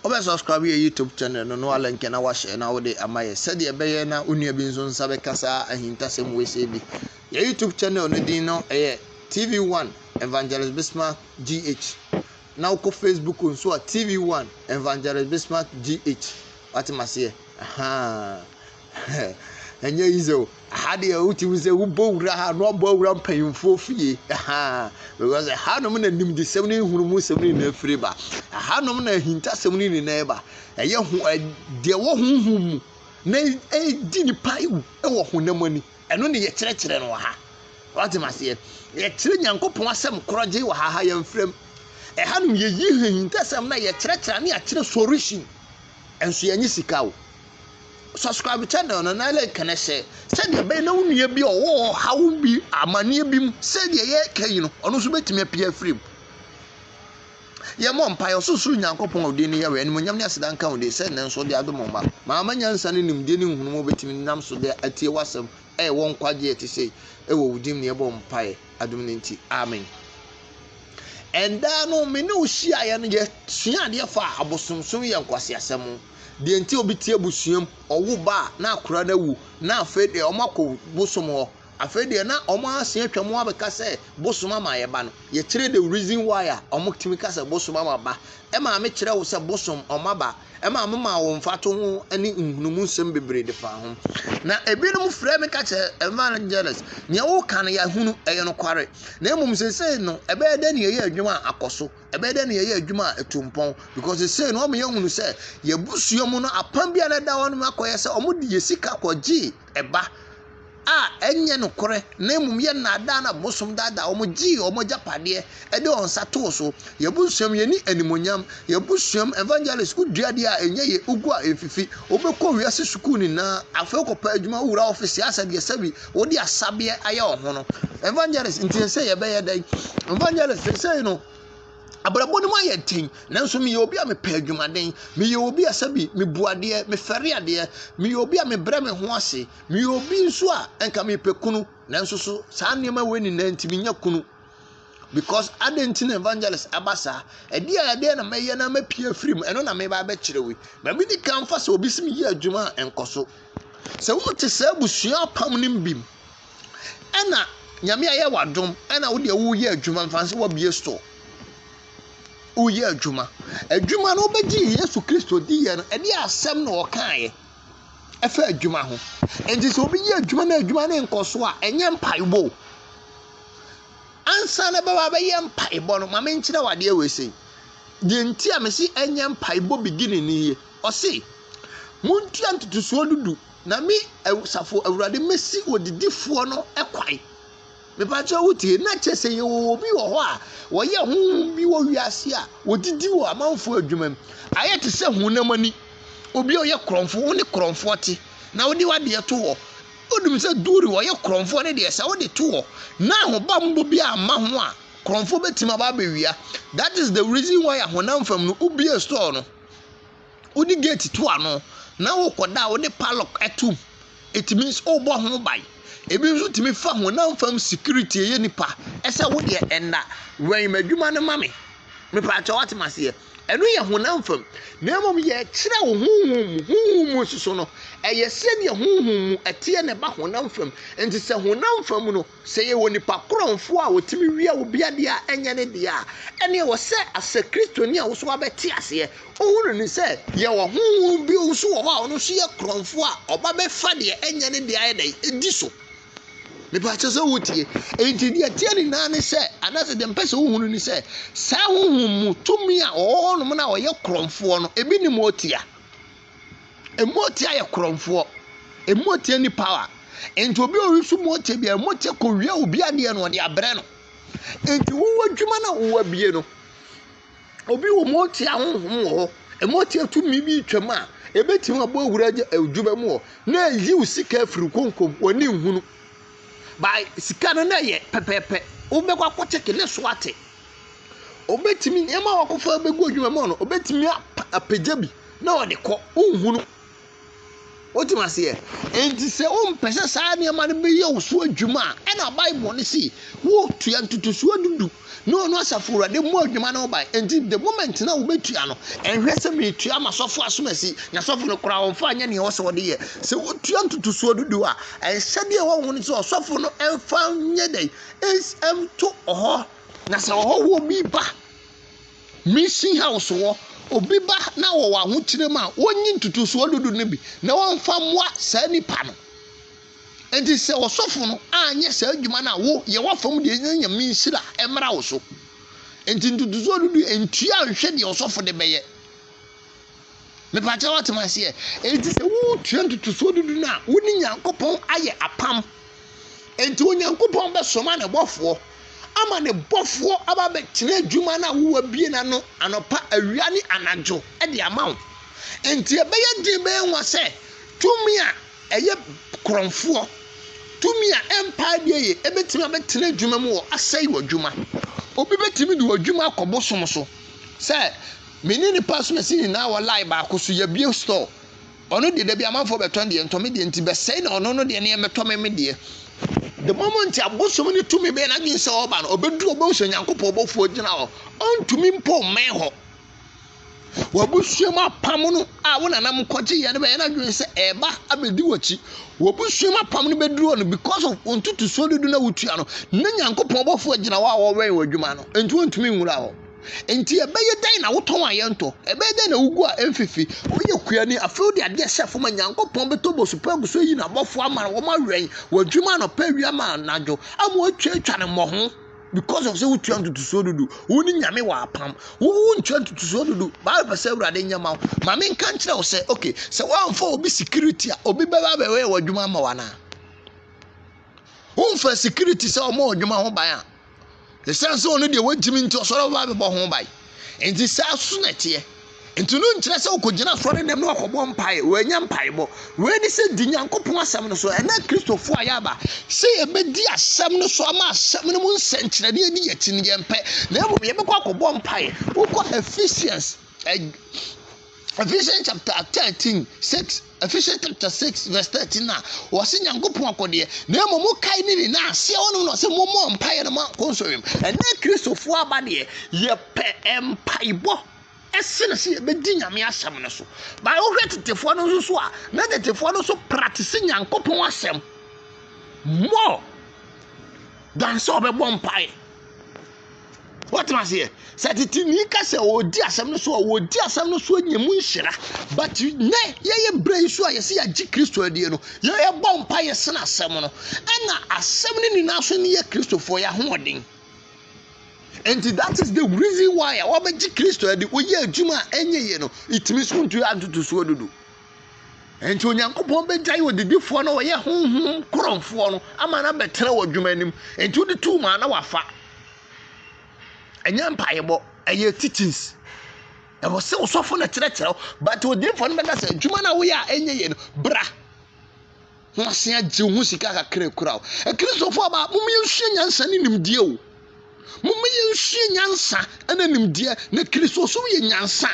Wobɛ subscribe yɛ YouTube channel no na wa link na wa share na wode ama yɛ sɛdeɛ ɛbɛyɛ na wo nua bi nso nsa bɛka saa ahintasɛm wei sɛ bi. Yɛ YouTube channel no din no ɛyɛ TV1 Evangelist Bismarck GH. Na wokɔ Facebook nso a TV1 Evangelist Bismarck GH. Wate maseɛ? Ahaa. ɛnyɛ yi sɛ ha deɛ wotumi sɛ wobɔ wura ha na wabɔ wura mpanyimfoɔ fie ha because ɛhanom na nimdesɛm ne nhunumu sɛm ne nyinaa firi ba ɛhanom na ahintasɛm ne nyinaa ba ɛyɛ ho deɛ wɔ honhom mu na ɛdi nipa ewu ɛwɔ honam ani ɛno ne yɛkyerɛkyerɛ no wɔ ha wate maseɛ yɛkyerɛ nyankopɔn asɛm korɔgye wɔ ha ha yɛmfrɛm ɛhanom yɛyi ahintasɛm na yɛkyerɛkyerɛ ne akyerɛ solution ɛnso yɛnye sika o Subscribe channel no na link no hyɛ sɛdeɛ ɛbɛyɛ na wo nua bi a ɔwɔ ɔhaw bi amanneɛ bi mu sɛdeɛ yɛreka yi no ɔno nso bɛtumi apia afiri mu yɛmmɔ mpaeɛ ɔsorosoro nyankopɔn a ɔdin no yɛwɛ animonyam ne aseda nka wo din sɛ nnɛ nso de adom ma maama nyansa ne nimdeɛ ne nhunumu a wobɛtumi nam so de atie w'asɛm ɛwɔ nkwagyeɛ te sɛ ɛwɔ wo din ne yɛbɔ mpaeɛ adom no nti amen ɛndaa no me ne wo hyiaeɛ no yɛsua adeɛ fa abosomsom yɛ nkwaseasɛm deɛ nti a obi te abusua mu, ɔwo ba a na akwadaa no awu, na afei deɛ wɔakɔ bosom hɔ. Afei deɛ na wɔase atwa mu abɛka sɛ bosom ama yɛ ba no. Yɛkyerɛ the reason why a wɔtumi ka sɛ bosom ama ba. Maame kyerɛ wo sɛ bosom ɔma ba. Maame maa wo mfatoho ne nhunumu nsɛm bebree de faa ho. Na ebinom frɛ me ka kyerɛ evangelist, nea woka no yɛahunu, ɛyɛ nokware. Na mmom seesei no, ɛbɛyɛ dɛn na yɛyɛ adwuma a akɔ so? ɛbɛyɛ dɛ na yɛyɛ adwuma a etu mpɔn because sesei no wɔma yɛhunu sɛ yɛn abusua mu no apam bi a na ɛda hɔ no mu akɔyɛ sɛ wɔde yɛn sika kɔgyee ɛba a ɛnyɛ nokorɛ na mmom yɛ nnaadaa na bosom daadaa wɔn gyee wɔn agyapadeɛ ɛde wɔn nsa too so yɛn abusua mu yɛni animonyam yɛn abusua mu evangelist wodua adeɛ a ɛnyɛ yɛ wogu a ɛmfifi wobɛkɔ wiase sukuu nyinaa afei wokɔpɛ adwuma wowura ɔfese asɛdeɛ sɛbi Wode asabeɛ ayɛ wo ho no, evangelist nti ɛsɛ sɛ yɛbɛyɛ dɛn? Evangelist sesei no, abrabɔ no mu ayɛ den nanso meyɛ obi a mepɛ adwumaden meyɛ obi a sɛ bi mebu adeɛ mefɛre adeɛ meyɛ obi a mebrɛ me ho ase meyɛ obi nso a nka mepɛ kunu nanso so saa nneɛma wei nyinaa nti menya kunu Because adɛn nti na evangelist aba saa? Ɛdeɛ a ɛdeɛ na mɛyɛ na mɛpie afiri mu, ɛno na meba abɛkyerɛ wo yi. Baabi ne kan fa sɛ obi si me yɛ adwuma a ɛnkɔ so. Sɛ wote saa abusua apam no mu bi mu, ɛna nyame ayɛ w'adom, ɛna wo deɛ woyɛ adwuma, mfa sɛ wabie store, woyɛ adwuma. Adwuma no wobɛgye Yesu Kristo di yɛ no, ɛdeɛ asɛm na ɔkaeɛ ɛfa adwuma ho. Nti sɛ obi yɛ adwuma na adwuma no nkɔ so a, ɛnyɛ mpaebɔ o. Ansa na ɛbɛba abɛyɛ mpaebɔ no, ma me nkyerɛ wo adeɛ wei sei. Deɛ nti a mesi ɛnyɛ mpaebɔ beginning ni yie. Ɔse, montua ntotosoɔ dudu na me safo awurade mesi odidifoɔ no kwae. Mepakyɛ wo tie, na kyɛ sɛ yɛwɔ obi wɔ hɔ a wɔyɛ honhom bi wɔ wiase a wɔdidi wɔ amanfoɔ adwuma mu. Ayɛ te sɛ honam ani. Obi a ɔyɛ korɔmfo, wo ne korɔmfoɔ te, na wode w'adeɛ to hɔ. Wonim sɛ Duri wɔyɛ korɔmfoɔ no deɛ sɛ wode to hɔ na ahobammɔ bi amma ho a, korɔmfoɔ bɛtumi aba abɛwia. That is the reason why ahonam fam no wobue store no, wode gate to ano na wokɔda a wode padlock to mu. It means wobɔ ho ban. Ebi nso tumi fa honam fam security ɛyɛ nipa ɛsɛ wodeɛ ɛnna wɛn m'adwuma no ma me. Mepatwa wate maseɛ. Ɛno yɛ honam fam, na mmom yɛkyerɛw honhom mu. Honhom mu nso so no, ɛyɛ sɛnea honhom mu ɛteɛ na ɛba honam fam. Enti sɛ honam fam no, sɛ yɛwɔ nipa korɔnfo a otumi wia obi ade a ɛnyɛ ne dea a, ɛnde ɛwɔ sɛ asɛ Kristoni a wosow aba te aseɛ. Ohu no ni sɛ yɛwɔ honhom bi nso wɔ hɔ a ɔno nso yɛ korɔnfo a ɔba bɛfa deɛ ɛnyɛ ne dea ayɛ dɛn? Di so. Mepakyɛ sɛ wotie. Enti deɛ ɛteɛ nyinaa ne sɛ, anaasɛ deɛ mpɛ sɛ wohunu ne sɛ, saa honhom mu tumi a wɔwɔ hɔnom no a wɔyɛ korɔmfoɔ no, ebi ne motia. Motia yɛ korɔmfoɔ. Motia ni power. Enti obi a ɔresu motia bi a, motia kɔwia obi adeɛ no, ɔde abrɛ no. Enti wowɔ adwuma no a wowɔ abie no, Obi wɔ mu a ɔte ahonhom wɔ hɔ, ɛma ɔte atumi bi retwam a, ɛbɛtumi abɔ awura adwuma mu hɔ na ɛyi wo sika afiri konkom wɔne nhunu. Ba sika no na ɛyɛ pɛpɛɛpɛ, wobɛkɔ akɔkyɛke ne so ate. Obɛtumi nneɛma a wakɔfa bɛgu adwuma mu hɔ no, obɛtumi apagya bi na ɔde kɔ, wonhunu. Wote aseɛ? Enti sɛ wompɛ sɛ saa nneɛma no bɛyɛ wo so adwuma a, ɛna Bible no si wotua ntotosoɔ du du na ɔno asafo awurade mmɔ adwuma no ban. Enti the moment na wobɛtua no, ɛnhwɛ sɛ metua m'asɔfo asomasi, n'asɔfo no koraa wɔmfa nyɛ nea ɛwɔ sɛ wɔde yɛ. Sɛ wotua ntotosoɔ du du a, ɛnhyɛ deɛ ɛwɔ ho no sɛ ɔsɔfo no mfa nyɛ dɛn, ɛnto hɔ. Na sɛ ɔhɔhoɔ bi ba, Misi ha wo soɔ, obi ba na ɔwɔ ahokyerɛ mu a, ɔnyi ntotosoɔ dudu no bi na ɔmfa mmoa saa nipa no. Enti sɛ ɔsɔfo no anyɛ saa adwuma no a, wo yɛ w'afam deɛ na Nyame nhyira mmra wo so. Enti ntotosoɔ dudu ntua nhwɛ deɛ ɔsɔfo de bɛyɛ. Mepakyɛw ɔte mo aseɛ? Enti sɛ woretua ntotosoɔ dudu no a, wo ne Nyankopɔn ayɛ apam. Enti Onyankopɔn bɛsoma ne bɔfoɔ ama ne bɔfoɔ aba abɛtena adwuma no a wowabie no ano anɔpa, awia ne anadwo de ama wo. Enti ɛbɛyɛ den bɛyɛ nwa sɛ tumi a ɛyɛ korɔmfoɔ, tumi a ɛmpae deɛ yɛ, ɛbɛtumi abɛtena adwuma mu wɔ asɛe w'adwuma. Obi bɛtumi de w'adwuma akɔ bosom so sɛ Me ne ne pasuasi nyinaa wɔ line baako so, yɛabue store. Ɔno deɛ, dabi amanfoɔ bɛtɔn deɛ, ntɔ me deɛ nti, bɛsɛe na ɔno no deɛ ne yɛmmɛtɔ me me deɛ. The moment a bosom no tumi bɛyɛ n'adwene sɛ ɔreba no, ɔbɛduru ɔbɛhu sɛ Onyankopɔn bɔfoɔ gyina hɔ, ɔntumi mpo mmɛn hɔ. W'abusua mu apam no a wo nananom kɔgyeeɛ no bɛyɛ n'adwene sɛ ɛreba abɛdi w'akyi. W'abusua mu apam no bɛduru hɔ no, because of wo ntotosoɔ dodo na wotua no, na Onyankopɔn bɔfoɔ gyina hɔ a wɔwɛn w'adwuma no, nti wɔntumi nwura hɔ. Enti ɛbɛyɛ dɛn na wotɔn a yɛntɔ? Ɛbɛyɛ dɛn na wugu a ɛmfifi? Woyɛ kuani, afei wode adeɛ hyɛ fam a Nyankopɔn bɛtɔ bosu pa agu so ayi n'abɔfoɔ ama no, wɔawɛn wɔ adwuma anɔpa awia ma anadwo, ama wɔatwaatwa ne mmɔho because of sɛ wotua ntotosoɔ dudu. Wo ne Nyame wɔ apam. Wo wontua ntotosoɔ dudu. Bible pɛ sɛ Awurade nyɛ ma wo. Ma menka nkyerɛ wo sɛ, okay, sɛ woamfa obi security a, obi bɛba abɛyɛ w'adwuma ama wo anaa? Womfa security sɛ ɔma w'adwuma ho ban a, Esiane sɛ ɔno deɛ wagyimi nti ɔsɔre ɔba abɛbɔ ho ban. Nti saa so na ɛteɛ. Nti no nkyerɛ sɛ ɔkɔgyina asɔre dɛm na ɔkɔbɔ mpaeɛ. Wɔanya mpaebɔ. Wei ne sɛ di Nyankopɔn asɛm no so. Ɛnɛ Kristofo a yɛaba sɛ yɛbɛdi asɛm no so ama asɛm no mu nsɛnkyerɛnne adi yɛn akyi no yɛmpɛ. Na mmom yɛbɛkɔ akɔbɔ mpaeɛ. Wokɔ Ephesians eh, Ephesians chapter thirteen six Ephesians chapter six verse thirteen a wɔsi nyankopɔn akɔdeɛ na emu mu kae ne nyinaa aseɛ wɔn na ɔsi mo mɔ mpaeɛ no mo akɔ nsɔrɔ mu ɛnna kristofo aba deɛ yɛpɛ mpaebɔ ɛsene sɛ yɛbɛdi nyame asɛm no so ba wohwɛ tetefoɔ no nso so a na tetefoɔ no nso practice nyankopɔn asɛm more than sɛ ɔbɛbɔ mpaeɛ wɔtena aseɛ sɛ tete ni ka sɛ ɔdi asɛm no so a ɔdi asɛm no so anya mu nhyira but nɛ yɛyɛ berɛ yi so a yɛsɛ yɛagye kristo adie no yɛyɛbɔ mpa yɛsene asɛm no ɛna asɛm no nyinaa so ne yɛ kristofoɔ yɛ ahoɔden nti that is the reason why a wɔbɛgye kristo adi woyɛ adwuma a ɛnyɛ yie no ɛtumi so ntu antotosoɔ dodo Enti Onyankopɔn bɛgyae ɔdedifoɔ na ɔyɛ honhom korɔmfoɔ no ama no abɛtena wɔ adwuma anim. Enti wode tu maa na wafa. Ɛnyɛ mpaebɔ, ɛyɛ teachings. Ɛwɔ sɛ ɔsɔfo na kyerɛkyerɛ wo, but ɔdedifoɔ no bɛka sɛ adwuma no a woyɛ a ɛnyɛ yie no, bra na wasen agye wo ho sika kakra kura wo. Akristofoɔ e ba, momma yɛnsua nyansa ne nimdeɛ o. Momma yɛnsua nyansa ne nimdeɛ na Kristosom yɛ nyansa.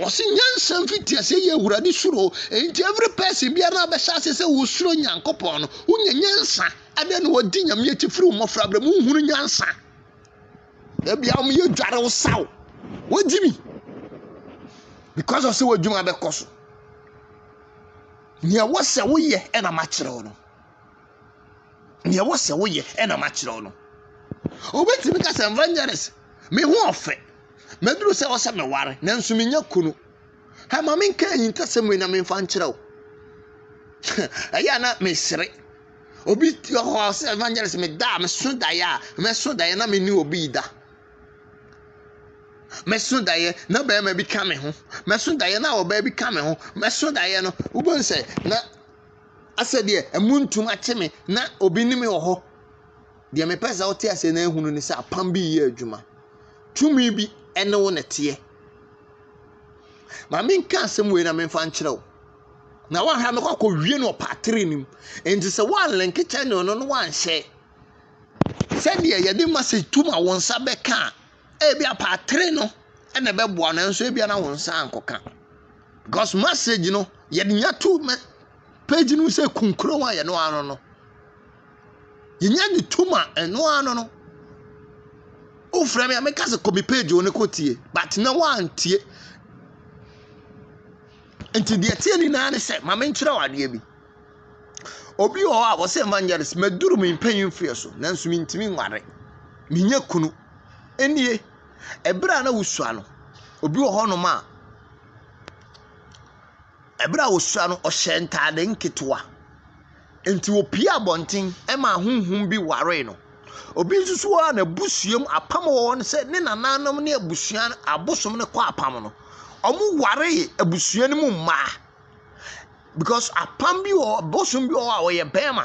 Ɔse nyansa mfitiase yɛ awurade suro enti every person biara na abɛhyɛ ase sɛ wosuro nyankopɔn no wonya nyansa adɛn na wɔdi nyame akyi firi mmɔfra berɛ mu wohunu nyansa ebia wɔn yɛ dware wo saw wogye mi because of sɛ w'adwuma bɛkɔ so nea ɛwɔ sɛ woyɛ ɛna makyerɛ wo no nea ɛwɔ sɛ woyɛ ɛna makyerɛ wo no obetumi ka sɛ evangelist me ho ɔfɛ maduru sɛ ɔsɛ meware nanso menya kunu ha ma menka ahintasɛm wei na memfa nkyerɛ wo ɛyɛ a na mesere obi wɔ hɔ a ɔsɛ evangelist meda a meso daeɛ a mɛso daeɛ na mene obi da mɛso daeɛ na bɛrima bi ka me ho mɛso daeɛ na ɔbaa bi ka me ho mɛso daeɛ no wobɛhu sɛ na Asɛ deɛ ɛmuntum akye me na obi ne me wɔ hɔ. Deɛ mepɛ sɛ wote aseɛ na ahunu ne sɛ apam bi reyɛ adwuma. Tumi bi ne wo na ɛteɛ. Ma menka asɛm wei na memfa nkyerɛ wo. Na woahwɛ no kɔkɔ wie no ɔpaatere no mu. Enti sɛ woanlenke kyɛne no no woanhyɛ. Sɛdeɛ yɛde message tu ma wo nsa bɛka a, Ebia paatere no na ɛbɛboa nanso ebia na wo nsa ankɔka. Because message no yɛde nya to me page no sɛ kunkuro a yɛno ano no. Yɛnya ne tum a ɛno ano no. Wofrɛ me a meka sɛ kɔ me page wo ne kɔtie but na woantie. Nti deɛ ɛteɛ nyinaa ne sɛ ma menkyerɛ wo adeɛ bi. Obi wɔ hɔ a ɔse evangelist maduru me mpanyin mfe so nanso mintumi nware. Minnya kunu. Enie, ɛberɛ a na wosua no, obi wɔ hɔ nom a, ɛberɛ a wosua no ɔhyɛ ntaade nketewa. Nti wopue abɔnten ɛmaa honhom bi waree no. Obi nso so wɔ hɔ a n'abusua mu apam wɔ hɔ sɛ ne nananom ne abusua abosom no kɔ apam no, wɔwaree abusua no mu mmaa. Because apam bi wɔ hɔ, bosom bi wɔ hɔ a ɔyɛ bɛrima,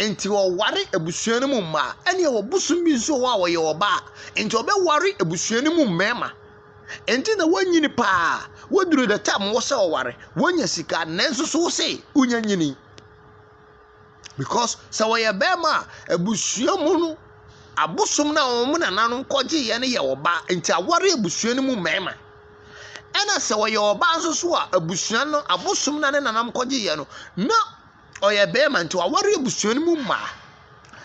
nti ɔware abusua no mu mmaa. Ɛna ɛwɔ bosom bi nso wɔ hɔ a ɔyɛ ɔbaa, nti ɔbɛware abusua no mu mmarima. Nti na wanyini paa. Waduru the time wɔ sɛ ɔware. Wanya sika nanso so wo se wonya nyini. Because sɛ wɔyɛ bɛrima a, abusua mu no, abosom no a wɔn nananom kɔgyeeɛ no yɛ ɔbaa, nti aware abusua no mu mmarima. Ɛna sɛ ɔyɛ ɔbaa nso so a, abusua no, abosom no a ne nananom kɔgyeeɛ no, na ɔyɛ bɛrima nti waware abusua no mu mmaa.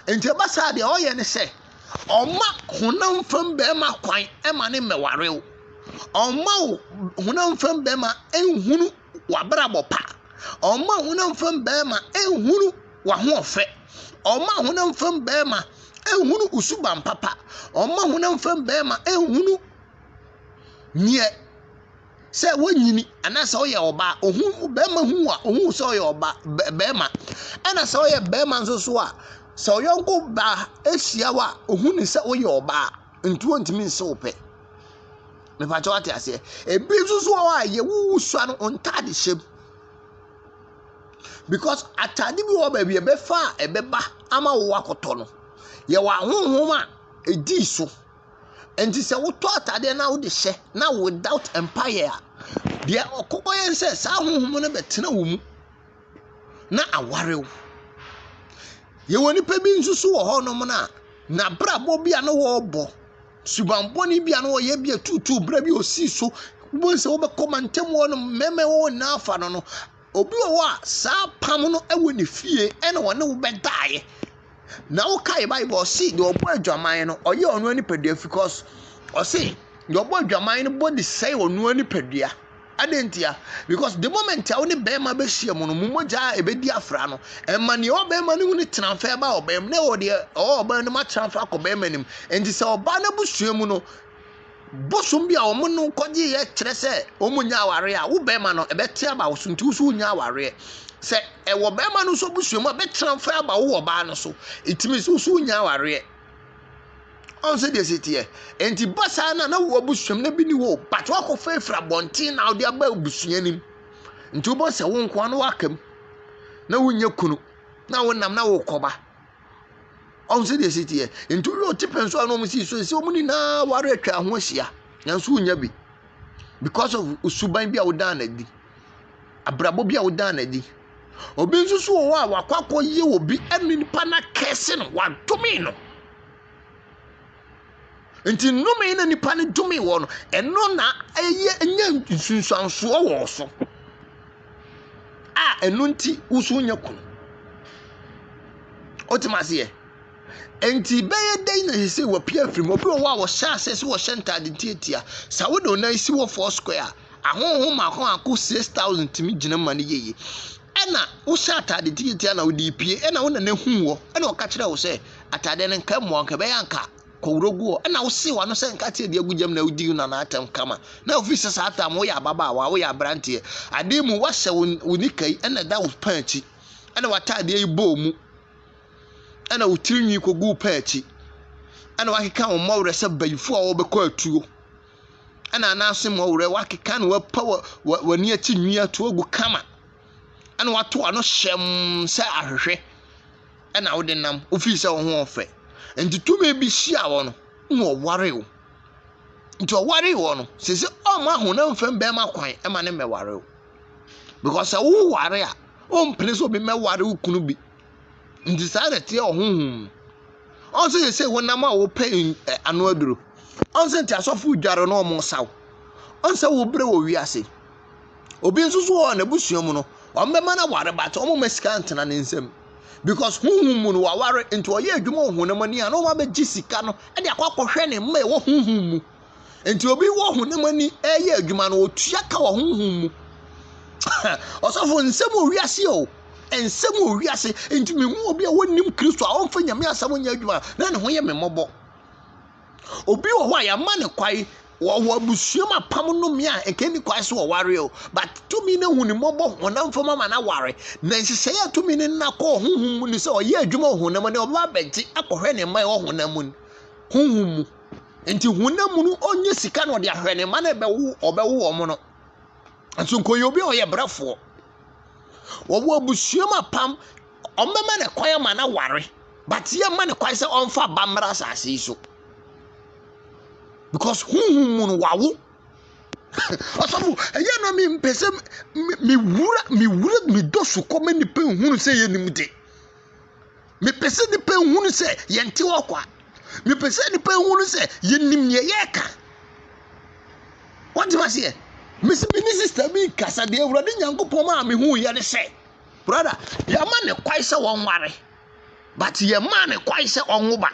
Nti ɛba saa deɛ ɔyɛ ne sɛ, ɔma honam fam bɛrima kwan ma ne mmɛware wo. Ɔma wo honam fam bɛrima nhunu w'abrabɔ pa. Ɔma honam fam bɛrima nhunu w'ahoɔfɛ. Ɔma honam fam bɛrima nhunu wo suban papa. Ɔma honam fam bɛrima nhunu neɛ sɛ wonyini anaasɛ ɔyɛ ɔbaa. Ohu bɛrima hu a ohu sɛ ɔyɛ ɔbaa bɛrima. Ɛna sɛ ɔyɛ bɛrima nso so a sɛ ɔyɔnko baa ehyia wo a ohu ne sɛ woyɛ ɔbaa nti ontumi nse wo pɛ. Mepakyɛw ate aseɛ. Ebi nso so wɔ hɔ a yɛwuwu sua no ntade hyɛ mu. Because atade bi wɔ baabi ɛbɛfa a ɛbɛba ama wo akɔtɔ no. Yɛwɔ ahonhom a ɛdii so. Nti sɛ wotɔ atadeɛ na wode hyɛ na without mpaeɛ a, deɛ ɔkɔkɔ yɛ sɛ saa ahonhom no bɛtena wo mu na aware wo. Yɛwɔ nipa bi nso so wɔ hɔnom no a n'abrabɔ bi a na wɔrebɔ Suban bɔne bi a na ɔyɛ bi atuutuu berɛ bi ɔsii so wobɛhu sɛ wobɛkɔ mantam hɔ no mmarima ɛwɔ hɔ nyinaa afa no no obi wɔ hɔ a saa pam no ɛwɔ ne fie ɛna ɔne wo bɛdaeɛ na wokae bible ɔse deɛ ɔbɔ adwaman no ɔyɛ ɔno nipadua because ɔse deɛ ɔbɔ adwaman no bɔ de sɛe ɔno nipadua Adɛn ntia? Because the moment a wo ne bɛrima bɛhyia mu no, mo mogya a ɛbɛdi afra no, ɛma nea ɔwɔ bɛrima no mu no tena mfa ɛba ɔbaa mu, na ɛwɔ deɛ ɔwɔ ɔbaa no mu atena mfa akɔ bɛrima no mu. Nti sɛ ɔbaa no abusua mu no, bosom bi a wɔn no kɔgyeeɛ kyerɛ sɛ wɔn nyɛ awareɛ a, wo bɛrima no ɛbɛte aba wo so, nti wo nso wonya awareɛ. Sɛ ɛwɔ bɛrima no nso abusua mu a, bɛtena mfa aba wo ɔbaa no so, it means wo nso wonya awareɛ. Ɔhu sɛ deɛ ɛsi teɛ. Enti ba saa na na wo abusua mu na bi ni hɔ but wakɔ fɛfiri abɔnten na wode aba abusua no mu. Nti wobɔ sɛ wo nkoa no waka mu na wonyɛ kunu na wonam na wokɔba. Ɔhu sɛ deɛ ɛsi teɛ. Nti woyɛ ɔte pɛn so a na wɔn si so ɛsɛ wɔn nyinaa ware atwa ho ahyia nanso wonya bi because of suban bi a wodaa no adi. abrabɔ bi a wodaa no adi. Obi nso so wɔ hɔ a wakɔ akɔyɛ obi ne nipa no akɛse no, wadome no. Nti nnome na nipa no dome wɔ no, ɛno na ɛyɛ nya nsunsuansoɔ wɔ so a ɛno nti woso nya kunu. Wotem aseɛ? Nti bɛyɛ dɛn na ɛsɛ sɛ wɔpia afiri mu? Obi wɔ hɔ a wɔhyɛ ase sɛ wɔhyɛ ntaade tiatia. Sɛ wode wo nan si hɔ four square a, Ahonhom makoako six thousand tumi gyina ma no yɛye. Ɛna wohyɛ atade tiatia na wode pue, ɛna wo nana hu wɔ, ɛna ɔka kyerɛ wo sɛ, atade no nka mmoa nka ɛbɛyɛ anka kɔwuro gu hɔ, ɛna wose wano sɛ nka te adi agu gyam na wodi wo nana atɛm kama. Na ofiri sɛ saa tam woyɛ ababaawa, woyɛ abranteɛ, adeɛ mu wahyɛ wo, wo nika yi ɛna ɛda wo pɛn akyi, ɛna watadeɛ yi bɔɔ mu, ɛna wo tiri nwi kɔgu wo pɛn akyi, ɛna wakeka wo mmɔwerɛ sɛ bayifo a wɔbɛkɔ atuo. ɛna anan ase mmɔ werɛ wakeka na wapa w'ani akyi nwi ato agu kama ɛna wato ano hyɛm sɛ ahwehwɛ ɛna wode nam wofii sɛ wo ho ɔfɛ nti tumi bi hyia wɔ no na ɔware wo nti ɔware wɔ no sɛ sɛ ɔma honam fam bɛrima kwan ɛma ne mmɛware wo because sɛ woware a wompene sɛ obi mmɛware wo kunu bi Nti saa na ɛteɛ wɔ honhom mu. Ɔn sɛ yɛsɛ honam a wɔpɛ ano aduro. Ɔn sɛ nti asɔfo dware na wɔsaw. Ɔn sɛ wobrɛ wɔ wiase. Obi nso so wɔ hɔ n'abusua mu no, wɔbɛma no aware but wɔmma sika ntena ne nsam. Because honhom mu no waware nti ɔyɛ adwuma wɔ honam ani a na wɔn abɛgye sika no de akɔ akɔhwɛ ne mma ɛwɔ honhom mu. Enti obi wɔ honam ani reyɛ adwuma no, otua ka wɔ honhom mu. Ɔsɔfo, nsɛm wɔ wiase o. Nsɛm wɔ wiase. Enti mehu obi a wɔnnim Kristo a ɔmfa Nyame asɛm nyɛ adwuma na ne ho yɛ me mmɔbɔ. Obi wɔ hɔ a yɛama ne kwae wɔwɔ abusua mu apam no mmea a ɛka ni kwae so wɔware o. But tumi no hu ne mmɔbɔ honam fam ama no aware. Na nhyehyɛe a tumi no nna kɔ honhom mu ne sɛ ɔyɛ adwuma wɔ honam ani, ɔbɛba abɛgye akɔhwɛ ne mma ɛwɔ honam mu, honhom mu. Nti honam mu no ɔnyɛ sika na ɔde ahwɛ ne mma na ɛbɛwo ɔbɛwo wɔn no. Nso nkɔyɛ obi a ɔyɛ brɛfoɔ. Wɔwɔ abusua mu apam ɔmbɛma ne kwan ama no aware but yɛ mma ne kwan sɛ ɔmfa ba mmra asase yi so because honhom mu no wawo ɔsɔfo ɛyɛ na mi mpɛ sɛ mi wura mi wura mi dɔ so kɔ ma nipa nhunu sɛ yɛ nim de. Mepɛ sɛ nnipa nhunu sɛ yɛnte hɔ kwa. Mepɛ sɛ nnipa nhunu sɛ yɛnim nea yɛreka. Wɔte aseɛ. Mesi me ne sista bi kasa deɛ Awurade Nyankopɔn maa me hu yɛ ne sɛ, brada, yɛma ne kwae sɛ wɔnware, but yɛmaa ne kwae sɛ ɔnwo ba.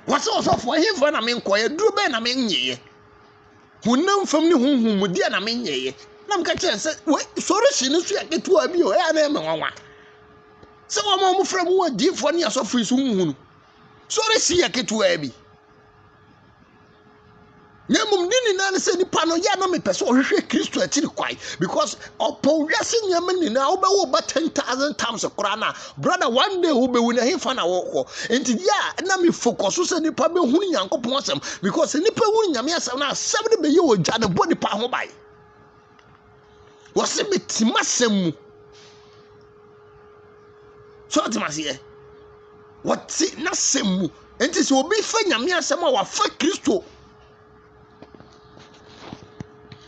Wɔsɛ ɔsɔfoɔ, ɛhefa na menkɔɛ, duro bɛn na menyeeɛ. Honam fam ne honhom mu deɛ na menyɛeɛ. Na meka kyerɛ sɛ, wei sɔre hye no so yɛ ketewa bi o, ɛyɛ a na ɛmɛ nwanwa. Sɛ wɔn a wɔfrɛ mu wɔ adiifoɔ ne asɔfo yi so nhunu. Sɔre hye yɛ ketewa bi. na mmom ne nyinaa ne sɛ nipa no yɛ na mepɛ sɛ ɔhwehwɛ kristo akyiri kwae because ɔpɔw wiase nneɛma nyinaa wobɛwo ba ten thousand times koraa no a Brother, one day who be win him fan awoko. And yeah, na me focus so say nipa be hun nyankopon asem because nipa hun nyame asem na asem ne be ye oja ne bo nipa ho bai. Wose me tima sem mu. So tima se ye. Wate na sem mu. Enti se obi fa nyame asem a wafa Kristo.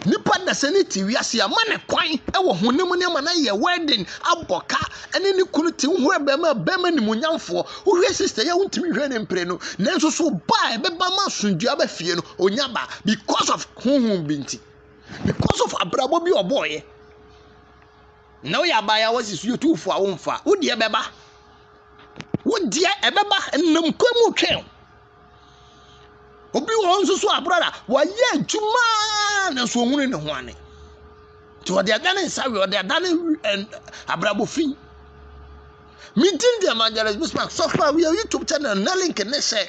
Nnipa dasani no te wiase a ma ne kwan wɔ honam nneɛma na yɛ wedding abɔ ka ne ne kunu te ho abɛma bɛma nimunyamfoɔ wohwɛ sister yɛ wontumi hwɛ ne mpere no nanso so ba a ɛbɛba ma asomdwoe aba fie no onya ba because of honhom bi nti because of abrabɔ bi ɔbɔɔyɛ na woyɛ abaayewa si so yɛtuufo a womfa wodeɛ bɛba wodeɛ ɛbɛba nam kwan mu twɛn Obi wɔ hɔ nso so a brada wayɛ adwuma nanso ɔhunu ne ho ane. Nti ɔde ada ne nsa we ɔde ada ne abrabɔ fi. Me din de Evangelist Bismarck sɔfo a woyɛ YouTube channel na link ne hyɛ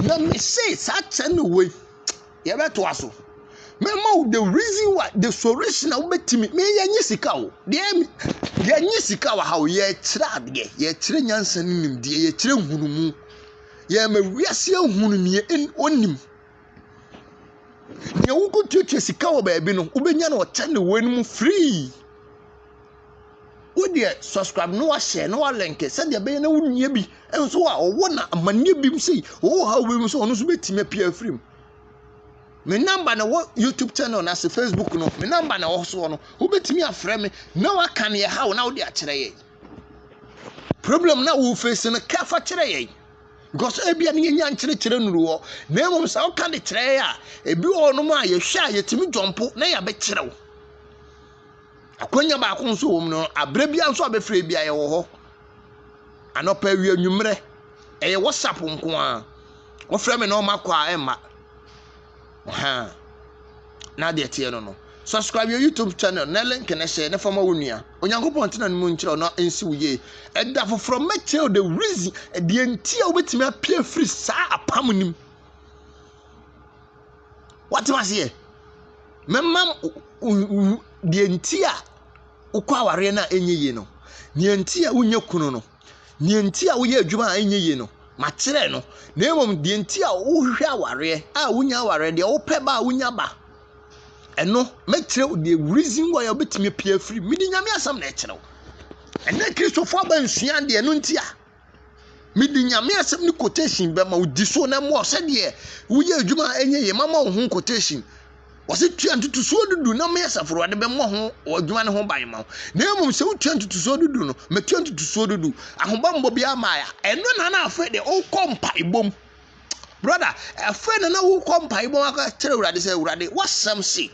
na me se saa channel wei yɛbɛtoa so. Mɛma wo the reason why the solution a wobɛtumi me yɛnye sika o deɛ yɛnye sika wɔ ha o yɛkyerɛ adeɛ yɛkyerɛ nyansa ne nimdeɛ yɛkyerɛ nhunumu. Yɛrema wiase ahunu nea onim. Nea wokotuatua sika wɔ baabi no, wobɛnya no ɔkyɛ ne wɔn mu free. Wo deɛ subscribe na wahyɛ na walɛnke sɛdeɛ ɛbɛyɛ na wonia bi nso a ɔwɔ na amanneɛ bi mu sei ɔwɔ ha wei mu sɛ ɔno nso bɛtumi apia afiri mu. Me namba na wɔ YouTube channel na ase Facebook no me namba na wɔ soɔ no wobɛtumi afrɛ me na waka neɛ ha wo na wode akyerɛ yɛn. Problem na wo face no ka fa kyerɛ yɛn. Because ebi a ne yɛnya nkyerɛkyerɛ nuru hɔ. Na mmom sɛ woka de kyerɛ yɛn a, ebi wɔ hɔnom a yɛhwɛ a yɛtumi jɔmpo na yɛabɛkyerɛw. Akwanya baako nso wɔ mu no, aberɛ bia nso a bɛfrɛ bia yɛwɔ hɔ. Anɔpa awia nwummerɛ, ɛyɛ WhatsApp nko a. Wofrɛ me na ɔma kɔ a ɛmma. Ahaa. Na adeɛ teɛ no no. Subscribe your YouTube channel na link no hyɛ na fa ma wo nua. Onyankopɔn ntena no mu nkyerɛ na nsi wo yie. Ɛda foforɔ mɛkyerɛ the reason deɛ nti a wobɛtumi apia firi saa apam nim. Watem aseɛ. Mɛma deɛ nti a wokɔ awareɛ no a ɛnyɛ yie no. Deɛ nti a wonyɛ kunu no. Nea enti a woyɛ adwuma a ɛnyɛ yie no, makyerɛ no, na mmom deɛ enti a wohwehwɛ awareɛ a wonya awareɛ, deɛ wopɛ ba a wonya ba. Ɛno, mɛkyerɛ wo the reason why a wobɛtumi apue afiri mu. Mede Nyame asɛm na ɛkyerɛ wo. Ɛnɛ Kristofo aba nsua deɛ ɛno nti a. Mede Nyame asɛm ne quotation bɛma wo di so na mmoa sɛdeɛ woyɛ adwuma a ɛnyɛ yie. Mama wo ho quotation. Wɔse tua ntotosoɔ du du na me Asafo Awurade bɛmmɔ ho adwuma no ho ban ma wo. Na mmom sɛ wotua ntotosoɔ du du no, mɛtua ntotosoɔ du du. Ahobammɔ biara mmaeɛ a, ɛno na na afei deɛ wokɔ mpaebɔ mu. Brɔda, afei na na wokɔ mpaebɔ mu akɔkyerɛ Awurade sɛ, Awurade, w'asɛm se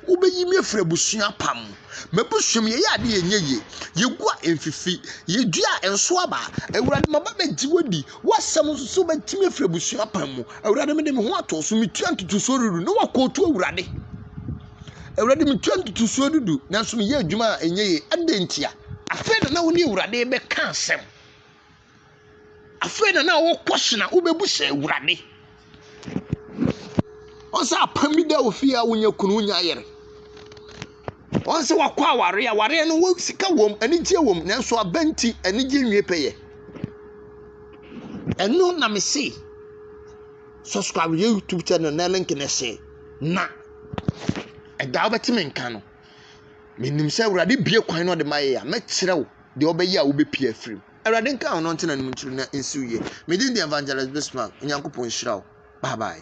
wobɛyi me afiri abusua pa mu. M'abusua mu yɛyɛ adeɛ yɛnyɛ yie, yɛgu a ɛmfifi, yɛdua a ɛnso aba. Awurade, maba bɛgye w'adi. W'asɛm nsusuw betumi afiri abusua pan mu. Awurade, mede me ho ato so, metua ntotosoɔ dudu ne wakɔɔtu Awurade. Awurade, metua ntotosoɔ dudu, nanso meyɛ adwuma a ɛnyɛ yie. Adɛn ntia? Afei na na wo ne Awurade bɛka asɛm. Afei na na wokɔ hyena, wobɛbu sɛ Awurade. Ɔsɛ apam bi dɛ ofi a wonya kun, wonya yer. Ɔsɛ wɔkɔ awar a, awar no wɔ sika wɔ mu, anigye wɔ mu, nanso ɔba ntsi anigye nnwie pɛyɛ. Ɛno na mese subscribe yɛ YouTube channel na link no hyɛ na ɛda wobɛte me nka no. Menim sɛ Awurade bue kwan na ɔde ma yɛ a, mɛkyerɛ wo deɛ ɔbɛyɛ a wobɛpue afiri mu. Awurade nka wo na ɔnte n'anom nkyiri na nsi wo yie. Me din de Evangelist Bismark, Onyankopɔn nhyira wo. Bye bye.